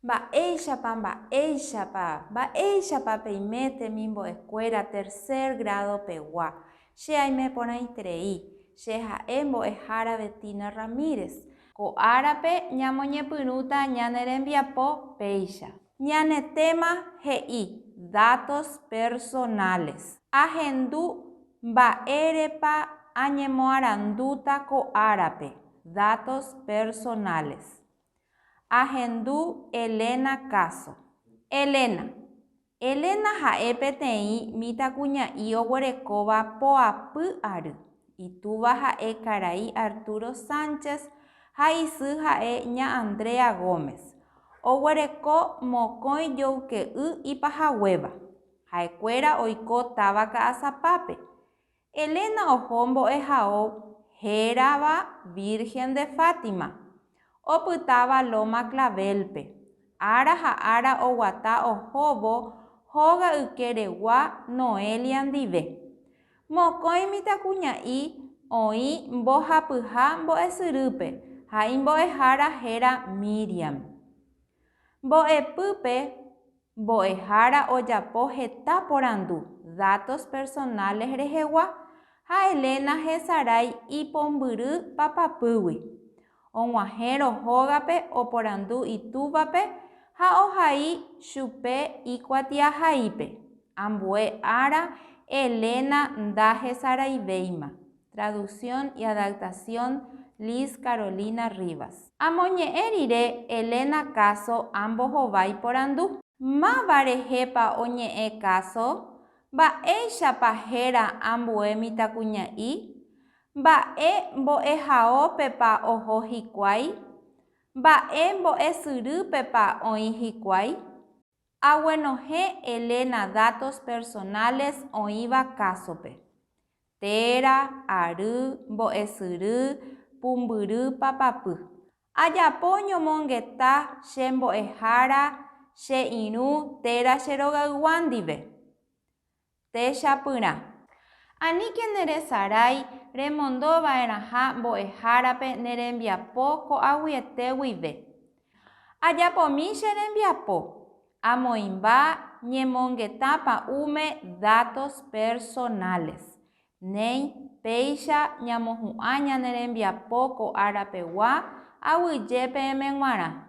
Mba'éichapa, mba'éichapa, mba'éichapa peime temimbo'ekuéra tercer grado pegua. Che aime porãiterei, che ha'e mbo'ehára Betina Ramírez. Ko árape ñamoñepyrũta ñane rembiapo péicha. Ñane téma he'i datos personales. Ahendu mba'érepa añemoarandúta ko árape, datos personales. Ahendu Elena káso. Elena. Elena ha'e peteĩ mitãkuña'i oguerekóva poapy ary. Itúva ha'e karai Arturo Sánchez ha isy ha'e ña Andrea Gómez. Oguereko mokõi joyke'y ipahaguéva. Ha'ekuéra oiko táva ka'asapápe. Elena oho mbo'ehao hérava Virgen de Fátima, opytáva Loma Clavel-pe. Ára ha ára oguata ohóvo hóga ykeregua Noelia ndive. Mokõi mitãkuña'i oĩ mbohapyha mbo'esyrýpe ha imbo'ehára héra Míriam. Mbo'epýpe mbo'ehára ojapo heta porandu datos personales rehegua ha Elena hesarái ipombyry papapýgui, Og̃uahẽrõ hógape oporandu itúvape ha ohai chupe ikuatiahaípe. Ambue ára Elena ndahesaraivéima. Traducción y adaptación Liz Carolina Rivas. Amoñe'ẽ rire Elena káso ambohovái porandu. Máva rehépa oñe'ẽ káso? Mba'éichapa héra ambue mitãkuña'i? Mba'e mbo'ehaópepa oho hikuái? Mba'e mbo'esyrýpepa oĩ hikuái? Aguenohẽ Elena datos personales oĩva kásope, téra, ary, mbo'esyry, pumbyry, papapy. Ajapo ñomongeta che mbo'ehára, che irũ, téra che rogaygua ndive. Techapyrã. Aníke neresarái remondo va'erãha mbo'ehárape ne rembiapo ko'aguyete guive. Ajapomi che rembiapo, amoĩmba ñemongeta pa'ũme datos personales, néi péicha ñamohu'ã ñane rembiapo ko ára pegua aguyje peẽme g̃uarã.